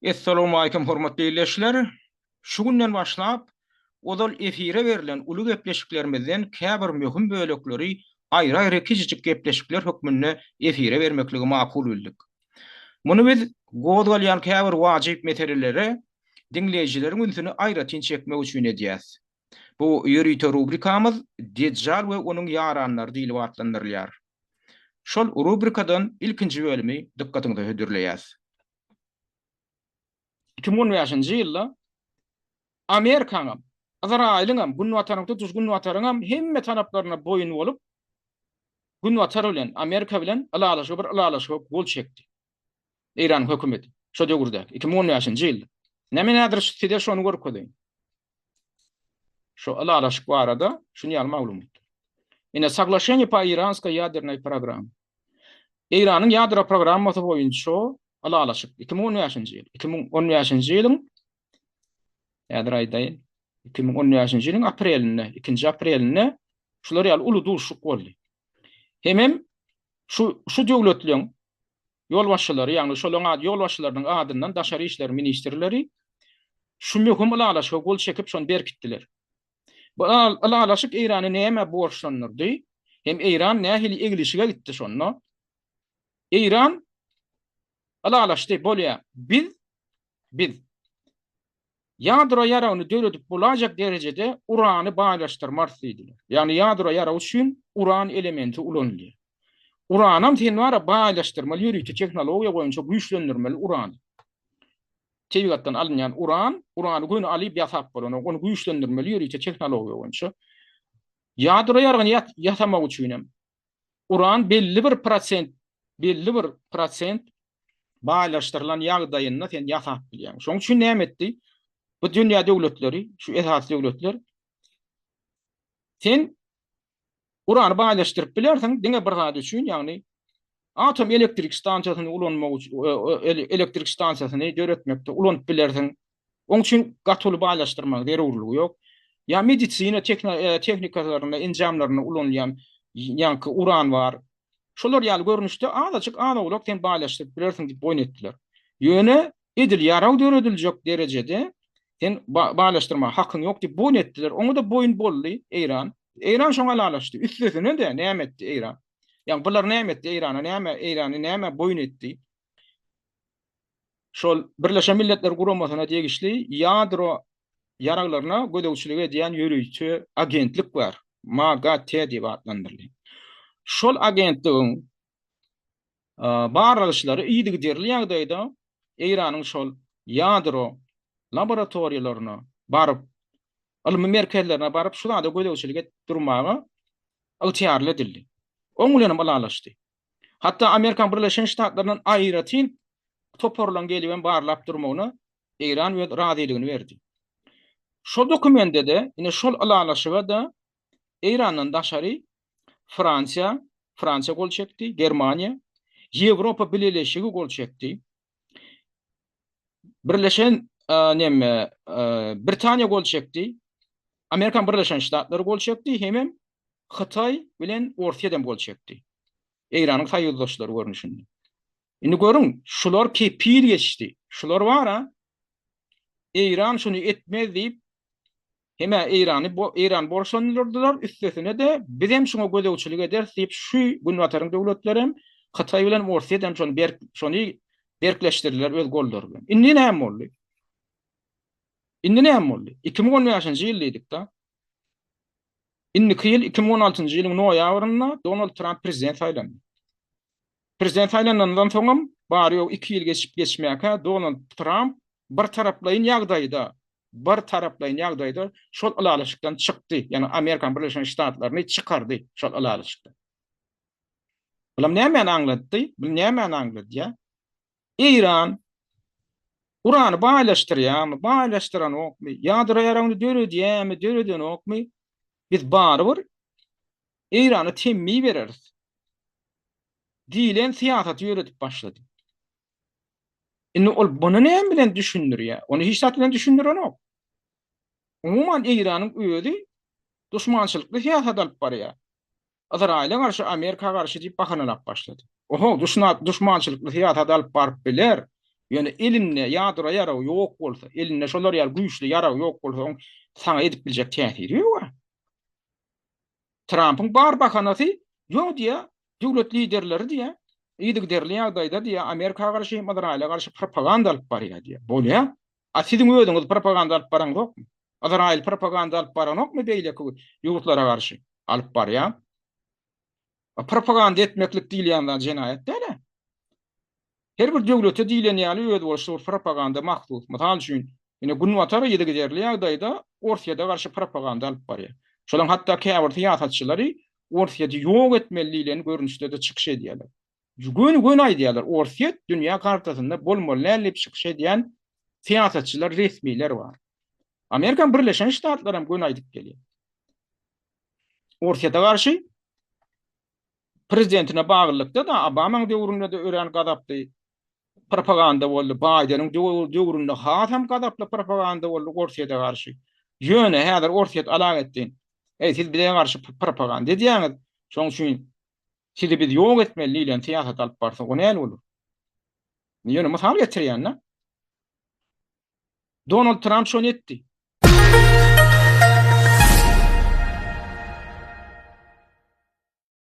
Essalawmaleýkim hormatly ildeşler! Şu günden başlap, ozal efire berlen uly gepleşiklerimizden käbir möhüm bölekleri aýry-aýry kiçijik gepleşikler hökmünde efire bermekligi makul bildik. Muny biz gozgalýan käbir wajyp meselelere diňleýjileriň ünsüni aýratyn çekmek üçin edýäs. Bu ýörite rubrikamyz Dejjal we onuň ýaranlary diýlip atlandyrylýar. Şol rubrikadan ilkinji bölümi dykgatyňyza hödürleýäs. Iki müň on bäşinji ýylda Amerikaň hem, Ysraýylyň hem, Günbatanyň, tutuş Günbataryň hem hemme talaplaryna boýun bolup, Günbatar bilen, Amerika bilen ylalaşyga bir ylalaşyga gol çekdi. Eýranyň hökümeti şo döwürdäki iki müň on bäşinji ýylda. Näme nädir size şony görkezeýin. Şu ylalaşyk barada şuny ýaly maglumat. Ine saglaşeniýe pa iranska ýadernaý program. Eýranyň ýadro programmasy boýunça ylalaşyk iki müň on bäşinji ýyl. Iki müň on bäşinji ýylyň häzir aýdaýyn. Iki müň on bäşinji ýylyň aprelinde, ikinji aprelinde şular ýaly uly duşuk boldy. Hemem Şu şu döwletleriň ýolbaşçylary, ýagny şolaryň ad ýolbaşçylarynyň adyndan daşary işler ministrleri şu möhüm ylalaşyga gol çekip, şony berkitdiler. Bu ylalaşyk Eýrany nämä borçlandyrdy? Hem Eýran nähili eglişige gitdi şonda? Eýran ylalaşdy, bolýar, biz Biz ýadro ýaragyny döredip bolajak derejede urany baýlaşdyrmarys diýdiler. Ýagny ýadro ýaragy üçin uran elementi ulanylýar. Uranam sen bara baýlaşdyrmaly ýörite tehnologiýa boýunça güýçlendirmeli urany. Tebigatdan alynýan uran, urany göni alyp ýasap bolanok, ony güýçlendirmeli ýörite tehnologiýa boýunça. Ýadro ýaragyny ýasamak üçin hem Uran belli bir prosent, belli bir prosent baýlaşdyrylan ýagdaýynda sen ýasap bilýäň. Şonuň üçin näme etdi? Bu dünýä döwletleri, şu esasy döwletler sen urany baýlaşdyryp bilersiň diňe bir zat üçin, ýagny atom elektrik stansiýasyny ulanmak üçin, e, e, elektrik stansiýasyny döretmekde ulanyp bilersiň. Oň üçin gaty uly baýlaşdyrmagyň zerurlygy ýok. Ýa medisina tehnikalarynda, enjamlarynda ulanylýan ýaňky uran bar. Şolar ýaly görnüşde azajyk az-owlak sen baýlaşdyryp bilersiň diýip boýun etdiler. Ýöne edil ýarag dörediljek derejede sen baýlaşdyrmaga hakyň ýok diýip boýun etdiler. Oňa-da boýun boldy Eýran. Eýran şoňa ylalaşdy. Üstesine-de näme etdi Eýran? Ýa bular näme etdi Eýrana? Näme Eýrany näme boýun etdi? şol Birleşen Milletler Guramasyna degişli ýadro ýaraglaryna gözegçilik edýän ýörite agentlik bar. MAGATE diýip atlandyrylýar. Şol agentligiň barlag işleri yzygiderli ýagdaýda Eýranyň şol ýadro laboratoriýalaryna baryp, ylmy merkezlerine baryp, şu zada gözegçilik edip durmaga ygtyýarly edildi. Oň bilen hem ylalaşdy. Hatda Amerikan Birleşen Ştatlaryndan aýratyn toparlaryň gelip hem barlap durmagyna Eýran öz razylygyny berdi. Şol dokumende-de, ine şol ylalaşyga-da Eýrandan daşary Fransiýa, Fransiýa gol çekdi, Germaniýa, Ýewropa Bileleşigi gol çekdi. Birleşen neme Britaniýa gol çekdi. Amerikan Birleşen Ştatlary gol çekdi, hemem Hytaý bilen Orsýet hem gol çekdi. Eýranyň soýuzdaşlary görnüşinde. Indi görüň, şular kepil geçdi. Şular bara Eýran şuny etmez diýip Hemä Eýrany Eýran borçlandyrdylar, üstesine-de biz hem şuňa gözegçilik ederis diýip şu Günbataryň döwletleri hem Hytaý bilen Orsýet hem şony berk şony berkleşdirdiler öz gollary bilen. Indi näme boldy? Indi näme boldy? 2015-nji ýyl diýdik-de. Indiki ýyl 2016-njy ýylyň noýabrynda Donald Tramp prezident saýlandy. Prezident saýlanandan soňam, bary-ýogy iki ýyl geçip-geçmäkä, Donald Tramp birtaraplaýyn ýagdaýda, birtaraplaýyn ýagdaýda şol ylalaşykdan çykdy, ýagny Amerikanyň Birleşen Ştatlaryny çykardy şol ylalaşykdan. Bulam nämäni aňlatdy? Bu nämäni aňladýar? Eýran urany baýlaşdyrýarmy, baýlaşdyranokmy, ýadro ýaragyny döredýärmi, döredenokmy, biz barybir Eýrana temmi bereris diýlen syýasaty ýöredip başlady. Indi ol bunu näme bilen düşündirýär? Ony hiç zat bilen düşündirenok. Umuman Eýranyň özi duşmançylykly syýasat alyp barýar. Ysraýyla garşy, Amerika garşy diýip bahanalap başlady. Oho, duşnat, duşmançylykly syýasat alyp baryp biler, ýöne elinde ýadro ýaragy ýok bolsa, elinde şolar ýaly güýçli ýarag ýok bolsa, oň saňa edip biljek täsiri ýok-a. Trampyň bar bahanasy, ýok diýýär, döwlet liderleri diýýär, yzygiderli ýagdaýda diýýär, Amerika garşy hem Ysraýyla garşy propaganda alyp barýar diýýär. Bolýa, A siziň özüňiz propaganda alyp baraňzokmy? Yzraýyl propaganda alyp baranokmy beýleki ýurtlara garşy? Alyp barýar. A propaganda etmeklik diýilýän zat jenaýat däl-ä. Her bir döwlete diýlen ýaly özboluşly bir propaganda mahsus. Mysal üçin, ine Günbatar yzygiderli ýagdaýda Orsýede garşy propaganda alyp barýar. Şolaryň hatda käbir syýasatçylary Orsýedi ýok etmeli diýlen görnüşde-de çykyş edýärler. Göni göni aýdýarlar Orsýet dünýä kartasynda bolmaly däl diýip çykyş edýän syýasatçylar resmiler bar. Amerikan birleşen ştatlary hem göni aýdyp gelýär. Orsýete garşy prezidentine baglylykda da Obamanyň döwründe de örän gazaply propaganda boldy. Baýdeniň döwründe has hem gazaply propaganda boldy Orsýete garşy. Ýöne häzir Orsýet alag etdi. Eý siz bize garşy propaganda edýäňiz. Şoň üçin Sizi biz ýok etmeli diýlen syýasat alyp barsa o näl bolar? Ýöne mysal getirýän-dä. Donald Tramp şony etdi.